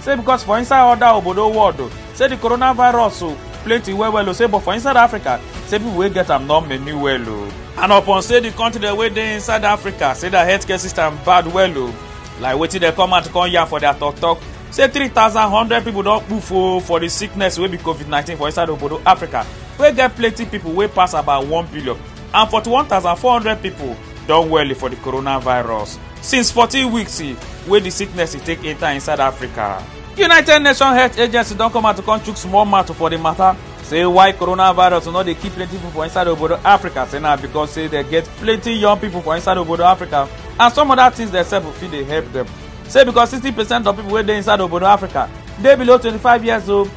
say because for inside other obodo world o say the coronavirus o plenty well well o say but for inside africa say people wey get am no many well o and upon say the country dem wey dey inside africa say their healthcare system bad well o like wetin dem come out come yarn for their talk talk say three thousand hundred people don kpoof o for the sickness wey be covid nineteen for inside obodo africa wey get plenty people wey pass about one billion and 41400 pipo don well for di coronavirus since 14 weeks wey di sickness take enta inside africa united nations health agency don come out to come chook small mouth for di matter say why coronavirus no dey kill plenty pipo for inside obodo africa say na becos say dem get plenty young pipo for inside obodo africa and some oda tins dem sef fit dey help dem say becos 60 percent of pipo wey dey inside obodo africa dey below 25 years old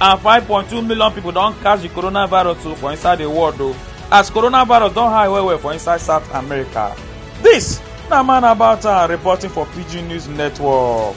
and 5.2 million pipo don catch di coronavirus o for inside di world o as coronavirus don high well well for inside south america dis na man about town reporting for pidgin news network.